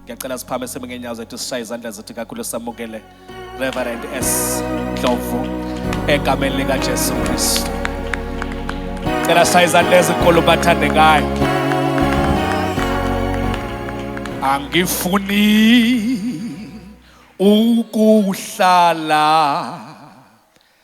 ngiyacela siphame sime ngenyawo zethu sishaye izandla zethu kakhulu samukele reverend s ndlovu egameni likajesu kristu cela sishaye izandla ezinkulu bathandekayo angifuni ukuhlala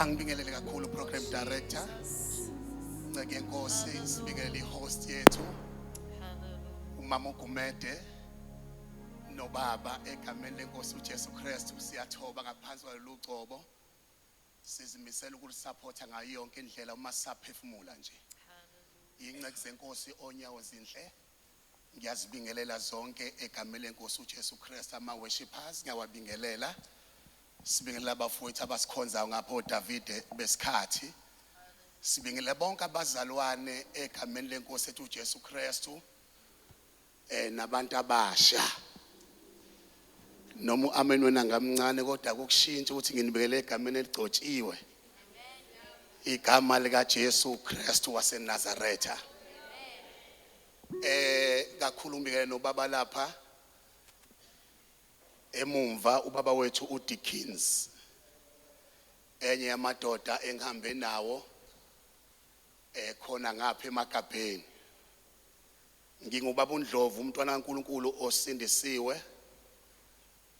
angibingelele kakhulu program director nceke yenkosi sibingelele ihost yethu umama ugumede nobaba egameni lenkosi uJesu Kristu siyathoba ngaphansi kwalolu gcobo sizimisela ukulisupporta ngayo yonke indlela uma sisaphefumula nje inceku zenkosi onyawo zinhle Ngiyazibingelela zonke egameni lenkosi uJesu Kristu ama worshippers ngiyawabingelela sibingelela abafowethu abasikhonzayo ngapho Davide besikhathi sibingelela bonke abazalwane egameni lenkosi ethu uJesu Kristu eh nabantu abasha noma uamen wena ngamncane kodwa kokushintsha ukuthi nginibekele egameni eligcotshiwe igama lika Jesu Kristu waseNazaretha Eh kakhulumi ke nobaba lapha emumva ubaba wethu uDickens enye yamadoda engihambe nawo ekhona eh, ngapha emagabheni ngingubaba uNdlovu umntwana kaNkuluNkulu osindisiwe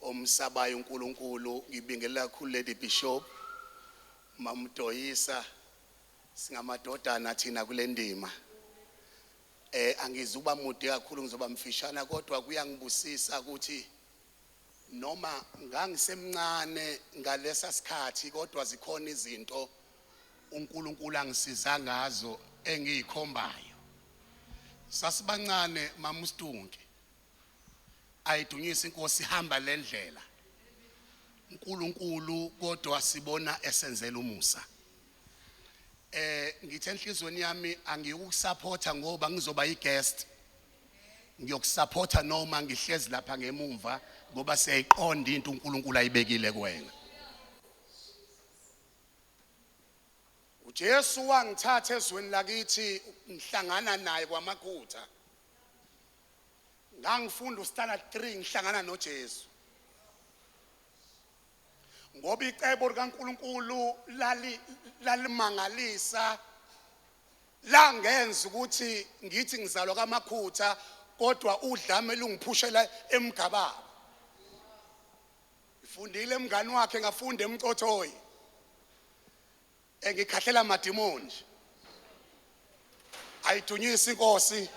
omsabayo uNkuluNkulu ngibingelela kakhulu lady bishop mamdoyisa Singamadodana thina kule ndima. Eh angizuba mude kakhulu ngizoba mfishana kodwa kuyangibusisa ukuthi noma ngangisemncane ngalesa sikhathi kodwa zikhona izinto uNkulunkulu angisiza ngazo engiyikhombayo. Sasibancane mama uStunke ayidunyisa inkosi ihamba lendlela uNkulunkulu kodwa sibona esenzela umusa eh ngithe enhlizweni yami angiyukusupporta ngoba ngizoba iguest ngiyokusupporta noma ngihlezi lapha ngemumva ngoba siyayiqonda into uNkulunkulu ayibekile kuwena uJesu wangithatha ezweni lakithi ngihlangana naye kwamakhutha ngangifunda uStana 3 ngihlangana noJesu ngoba icebo likaNkulunkulu lali lalimangalisa langenza ukuthi ngithi ngizalwa kamakhutha kodwa udlame lungiphushela emgababa ngifundile mngani wakhe ngafunda emcothoyi Engikhahlela madimoni. Ayidunyisi inkosi.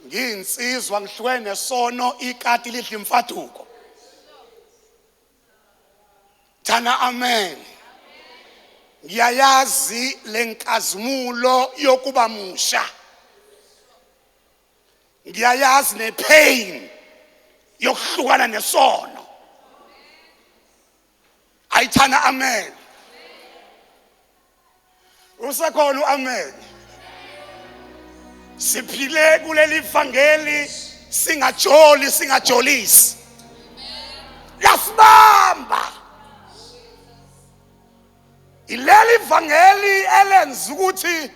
Ngiyinsizwa ngihlwene sono ikati lidla imfaduko. Thana amen. Ngiyayazi lenkazimulo yokuba musha. Ngiyayazi nepain yokuhlukana nesono. ayithana amen usekhona uamen siphile kuleli vangeli singajoli singajolisi yasibamba ileli vangeli elenza ukuthi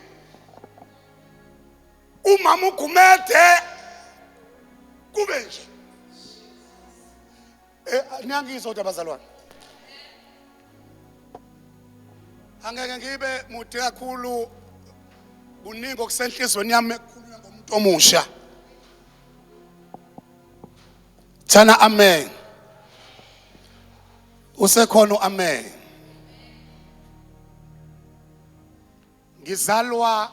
umama ugumede kube nje Eh, niyangizwa kodwa bazalwane angeke ngibe mude kakhulu kuningi okusenhlizweni yami ekhulunywa ngomuntu omusha thana amen usekhona uamen Ngizalwa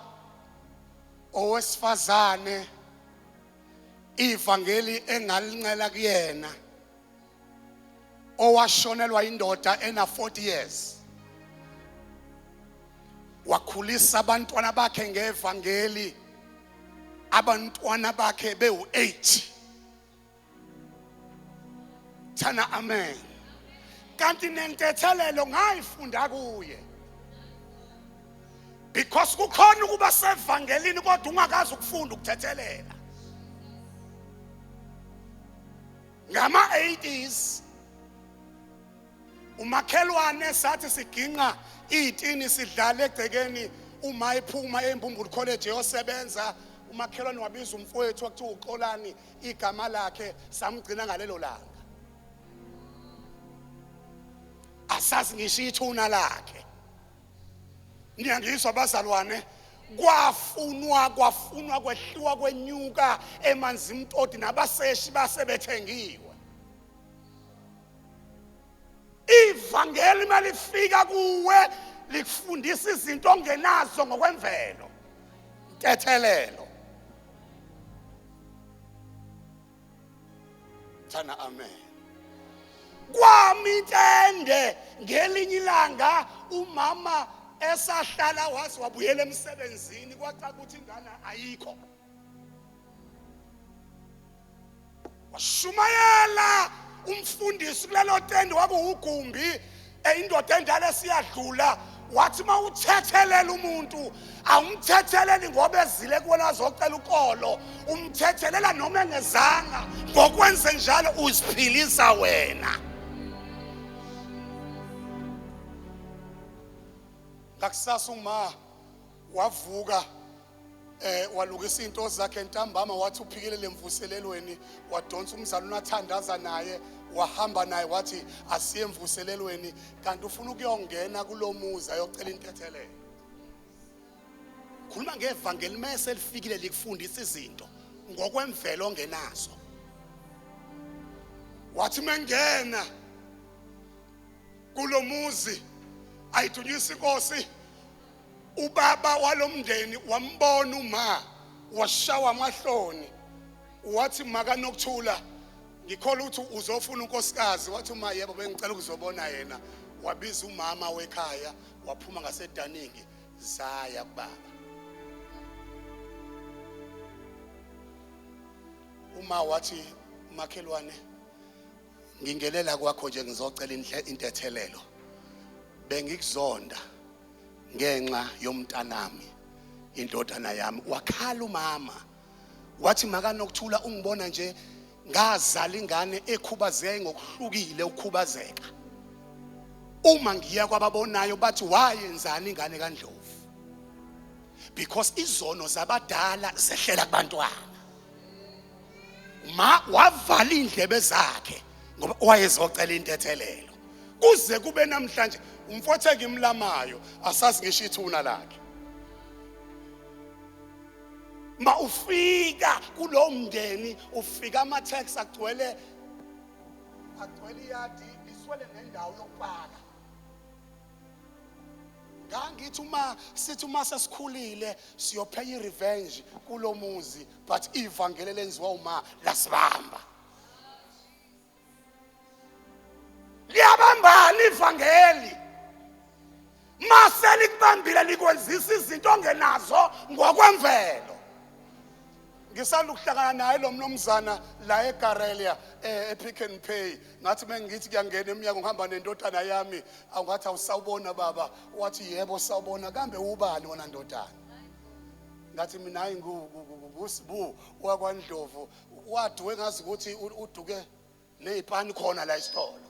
owesifazane ivangeli engalincela kuyena owashonelwa indoda ena 40 years wakhulisa abantwana bakhe ngevangeli abantwana bakhe bewu-8 thana amen kanti nentethelelo ngayifunda kuye because kukhona ukuba sevangelini kodwa ungakazi ukufunda ukuthethelela ngama-80s umakhelwane sathi siginqa iy'tini sidlala egcekeni uma ephuma embumbulu college eyosebenza umakhelwane wabiza umfowethu wakuthiwa uxolani igama lakhe samgcina ngalelo langa asazi ngisho ithuna lakhe niyangizwa bazalwane kwafunwa kwafunwa kwehliwa kwenyuka emanzi mtoti nabaseshi basebethengiwe ivangeli malifika kuwe likufundisa izinto ongenazo ngokwemvelo tethelelo thana amen kwami intende ngelinye ilanga umama esahlala waze wabuyela emsebenzini kwacaca ukuthi ingane ayikho washumayela umfundisi kulelo tende wakuwugumbi eyindoda endala esiyadlula wathi uma uthethelela umuntu awumthetheleli ngoba ezile kuwena azocela ukolo umthethelela noma engezanga ngokwenze njalo uziphilisa wena ngakusasa uma wavuka eh walukisa into zakhe ntambama wathi uphikelele emvuselelweni wadonsa umzali unathandaza naye wahamba naye wathi asiye emvuselelweni kanti ufuna ukuyongena kulomuzi ayocela intethelelo khuluma ngevangeli mase lifikile likufundisa izinto ngokwemvelo ongenazo wathi mengena kulomuzi ayidunyisa inkosi Ubaba walomndeni wambona uma washawa amahloni wathi makanokuthula ngikhola ukuthi uzofuna unkosikazi wathi uma yebo bengicela ukuzobona yena wabiza umama wekhaya waphuma ngasedaningi zaya kubaba uma wathi makhelwane ngingelela kwakho nje ngizocela intethelelo bengikuzonda ngenxa yomntanami indodana yami wakhala umama wathi makanokuthula ungibona nje ngazala ingane ekhubazeke ngokuhlukile ukhubazeka uma ngiya kwababonayo bathi wayenzani ingane kaNdlovu because izono zabadala zehlela kubantwana ma wavala indlebe zakhe ngoba wayezocela intethelelo kuze kube namhlanje umfotheke imlamayo asazi ngisho ithuna lakhe ma ufika kulowo mndeni ufika ama-tax agcwele agcwele iyadi liswele nendawo yokupaka ngangithi uma sithi uma sesikhulile siyophenya i-revenge kulo muzi but ivangeli elenziwa uma lasibamba liyabambana ivangeli mase likubambile likwenzisa izinto ongenazo ngokwemvelo ngisanda ukuhlangana naye lo mnumzana la egarelia eh, epick and pay ngathi mengithi kuyangena emnyango ngihamba nendodana yami awungathi awusawubona baba wathi yebo sawubona kambe ubani wona ndodana ngathi mina hayi ngusibu wakwandlovu waduke ngazi ukuthi uduke nezipani khona la isitolo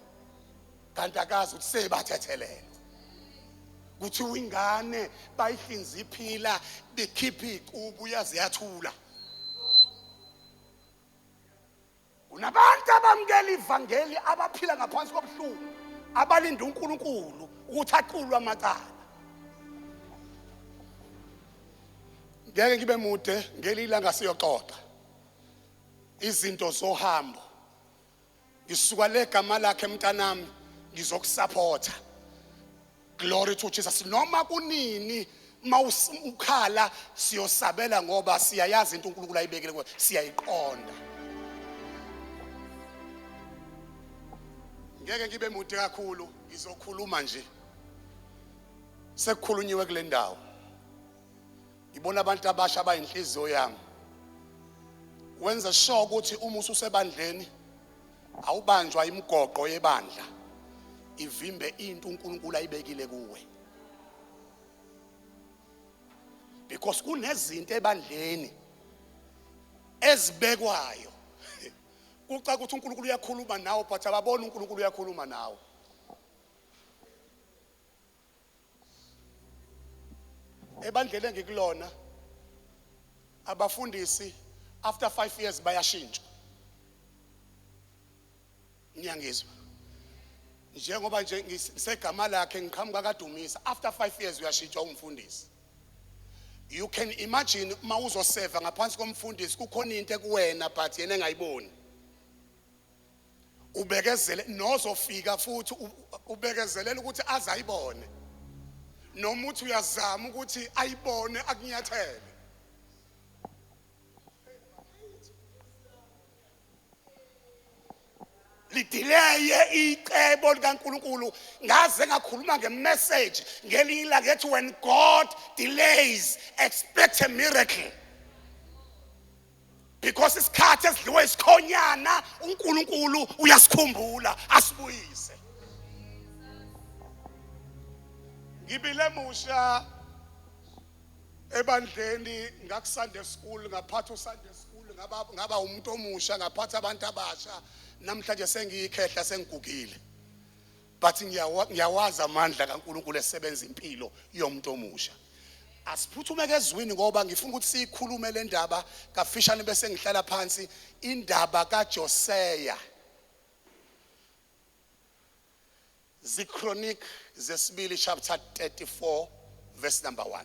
kanti akazi ukuthi sebathethelele kuthiwa ingane bayihlinza iphila bekhipha iqubu yaze yathula kunabantu abamukela ivangeli abaphila ngaphansi kobuhlungu abalinde uNkulunkulu ukuthi aqulwe amacala ngeke ngibe mude ngelilanga siyoxoxa izinto zohambo ngisuka legama lakhe mntanami ngizokusaphotha Glory to Jesus. Noma kunini mawukhala siyosabela ngoba siyayazi into uNkulunkulu ayibekele kuwe. Siyayiqonda. Ngeke ngibe mude kakhulu, ngizokhuluma nje. Sekukhulunyiwe kule ndawo. Ngibona abantu abasha abayinhliziyo yami. Wenza sure ukuthi uma ususebandleni Awubanjwa imigoqo yebandla ivimbe into uNkulunkulu ayibekile kuwe. Because kunezinto ebandleni ezibekwayo. Kuca ukuthi uNkulunkulu uyakhuluma nawe but ababona uNkulunkulu uyakhuluma nawe. ebandleni engikulona abafundisi after 5 years bayashintsha ngiyangizwa njengoba nje ngisegama lakhe ngiqhamuka kadumisa after 5 years uyashintshwa umfundisi you can imagine uma uzoseva ngaphansi komfundisi kukhona into ekuwena but yena engayiboni ubekezele nozofika futhi ubekezelela ukuthi aze ayibone noma uthi uyazama ukuthi ayibone akunyathele lidileye icebo likaNkuluNkulu ngaze ngakhuluma ngemessage ngelinye ilanga ethi when God delays expect a miracle because isikhathi esidliwe isikhonyana uNkulunkulu uyasikhumbula asibuyise ngibile musha ebandleni ngakuSunday school ngaphatha uSunday school ngaba ngaba umuntu omusha ngaphatha abantu abasha namhlanje sengiyikhehla sengigugile but ngiyawazi amandla kaNkulunkulu esebenza impilo yomuntu omusha asiphuthume ke ezwini ngoba ngifuna ukuthi siyikhulume le ndaba kafishane bese ngihlala phansi indaba kaJoseya zichronic zesibili chapter 34 verse number 1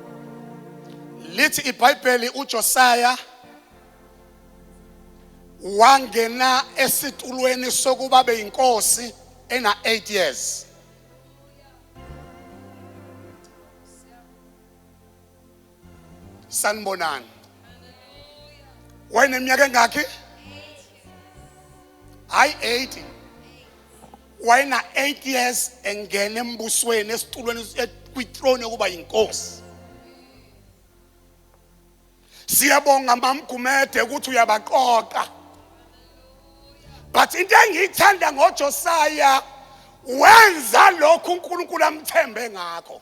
lithi ibhayibheli ujosaya wangena esitulweni sokuba beyinkosi ena 8 years sanibonani wayeneminyaka engakhi hayi 80 wayena 8 years engena embusweni esitulweni kwithrone yokuba yinkosi siyabonga mamgumede ukuthi uyabaqoqa but into engiyithanda ngojosaya wenza lokhu unkulunkulu amthembe ngakho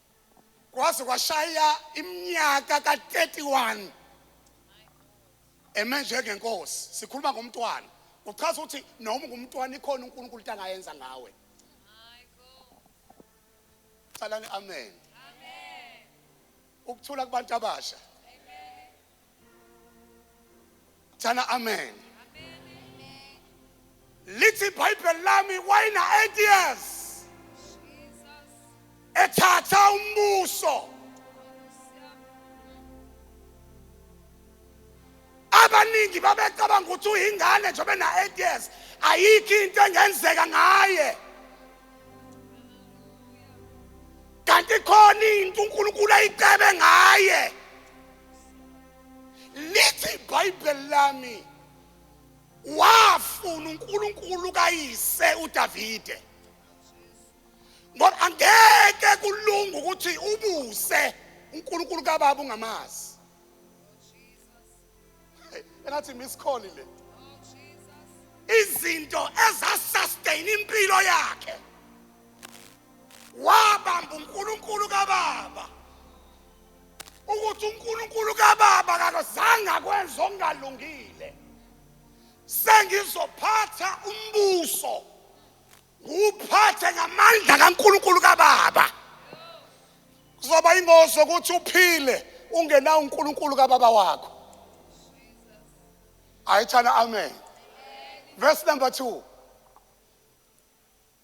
kwaze kwashaya iminyaka ka-31 eme njengenkosi sikhuluma ngomntwana uchaza ukuthi noma ngumntwana ikhona unkulunkulu into angayenza ngawe calani amen ukuthula kubantu abasha Jana amen. Lithi iBhayibheli lami wayena 8 years. Ethatha umbuso. Abaningi babecabanga ukuthi uyingane nje bena 8 years. Ayikho into engenzeka ngaye. Kanti khona into uNkulunkulu ayicebe ngaye. lithi ibhayibheli lami wafuna uNkulunkulu kayise uDavide ngoba angeke kulunga ukuthi ubuse uNkulunkulu kababa ungamazi engathi miss call le izinto ezasustain impilo yakhe wabamba uNkulunkulu kababa ukuthi uNkulunkulu kababa kakazange akwenze okungalungile sengizophatha umbuso nguphathe ngamandla kaNkulunkulu kababa kuzoba ingozi ukuthi uphile ungenawo uNkulunkulu kababa wakho ayithana amen verse number 2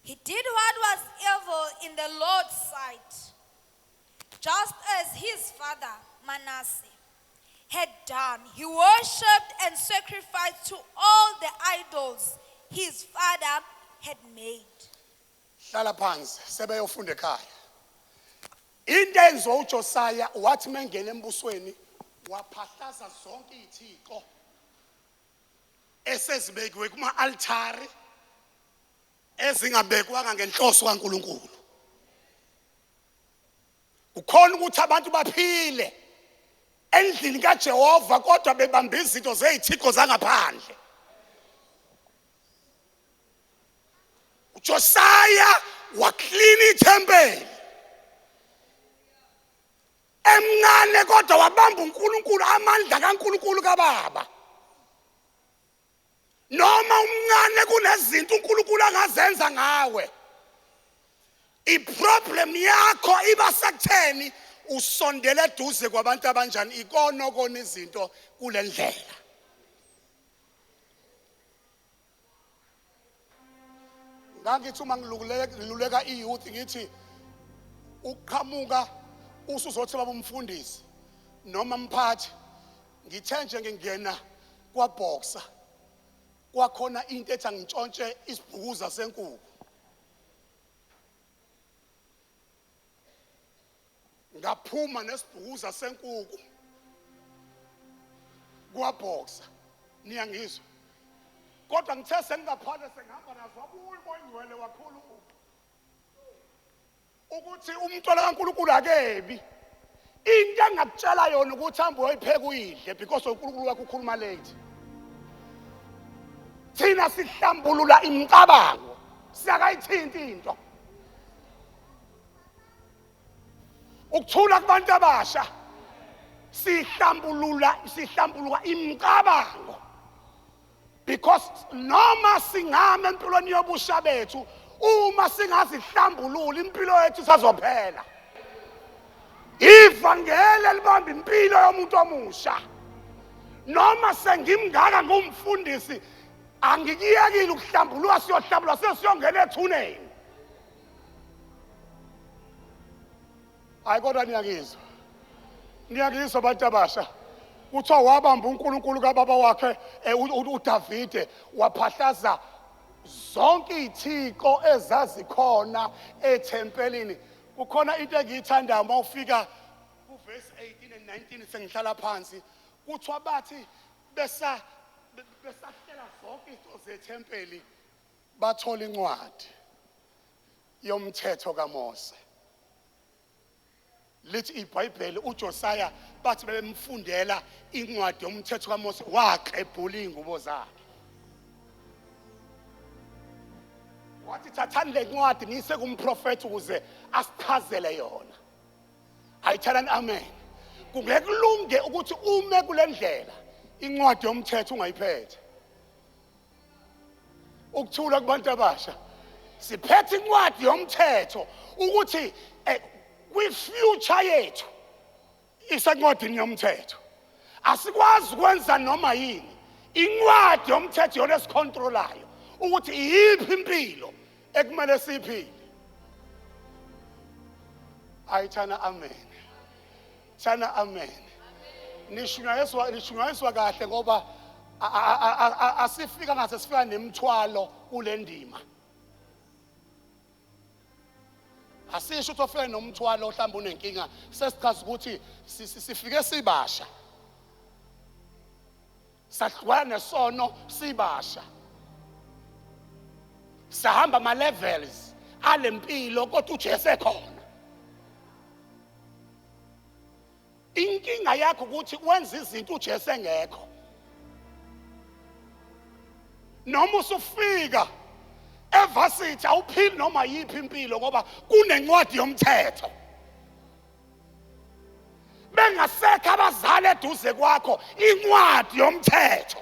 He did what was evil in the Lord's sight. Just as his father Manasseh had done, he worshipped and sacrificed to all the idols his father had made. hlala phansi sebeyofunda ekhaya into enziwa ujosiya wathi uma engena embusweni waphahlaza zonke iy'thixo esezibekiwe kuma-altari ezingabekwanga ngenhloso kaNkulunkulu kukhona ukuthi abantu baphile endlini kaJehova kodwa bebambe izinto zezithixo zangaphandle uJosiah waklina ithempeli emncane kodwa wabamba uNkulunkulu amandla kaNkulunkulu kababa noma umncane kunezinto uNkulunkulu angazenza ngawe iproblem yakho iba sekutheni usondele eduze kwabantu abanjani ikona okona izinto kulendlela ngangithi uma ngiluleka i-youth ngithi uqhamuka usuzothi baba umfundisi noma mphathi ngithe nje ngingena kwabhoxa kwakhona into ethi angintshontshe isibhukuza senkuku ngaphuma nesibhukuza senkuku kwabhoxa niyangizwa kodwa ngithe sengingaphale sengihamba nazo wabuya koyingcwele wakhulu ukuthi umntwana kaNkulunkulu akebi into engakutshela yona ukuthi hambe uyoyipheka uyidle because uNkulunkulu wakho ukhuluma late thina sihlambulula imicabango siyakayithinti into ukuthula kubantu abasha sihlambulula sihlambuluka imicabango because noma singama empilweni yobusha bethu uma singazihlambulula impilo yethu isazophela ivangeli elibamba impilo yomuntu omusha noma sengimngaka ngumfundisi angikuyekile ukuhlambulula siyohlambulula sesiyongena ethuneni hayi kodwa niyakizwa niyakizwa abantu abasha kuthiwa wabamba unkulunkulu kababa wakhe eh, u- u- udavide waphahlaza zonke iy'thixo ezazikhona ethempelini kukhona into engiyithandayo uma ufika kuvesi 18 and 19 sengihlala phansi kuthiwa bathi besa- be- besahlela zonke izinto zethempeli Bathola incwadi yomthetho kaMose. Lithi iBhayibheli uJosiah bathi bebemfundela incwadi yomthetho kaMose waqebhula izingubo zakhe. wathi thathani le ncwadi niyise kumprofethi ukuze asichazele yona ayithalani amen kungeke kulunge ukuthi ume kule ndlela incwadi yomthetho ungayiphethe ukuthula kubantu abasha siphethe incwadi yomthetho ukuthi eh, kwi-future yethu isencwadini yomthetho asikwazi ukwenza noma yini incwadi yomthetho yona esikhontrolayo ukuthi iyiphi impilo ekumele siyiphile ayithana amen Shana amen. Nishunyayiswa nishunyayiswa kahle ngoba asifika ngase sifika nemthwalo kule ndima. Asisho ukuthi ofike nomthwalo ohlamba unenkinga sesichaza ukuthi sifike sibasha. sahlukana nesono sibasha sahamba ama levels alempilo kodwa uJesu ekhona inkinga yakho ukuthi wenza izinto uJesu engekho noma usufika evasithi awuphili noma yiphi impilo ngoba kunencwadi yomthetho bengasekho abazali eduze kwakho incwadi yomthetho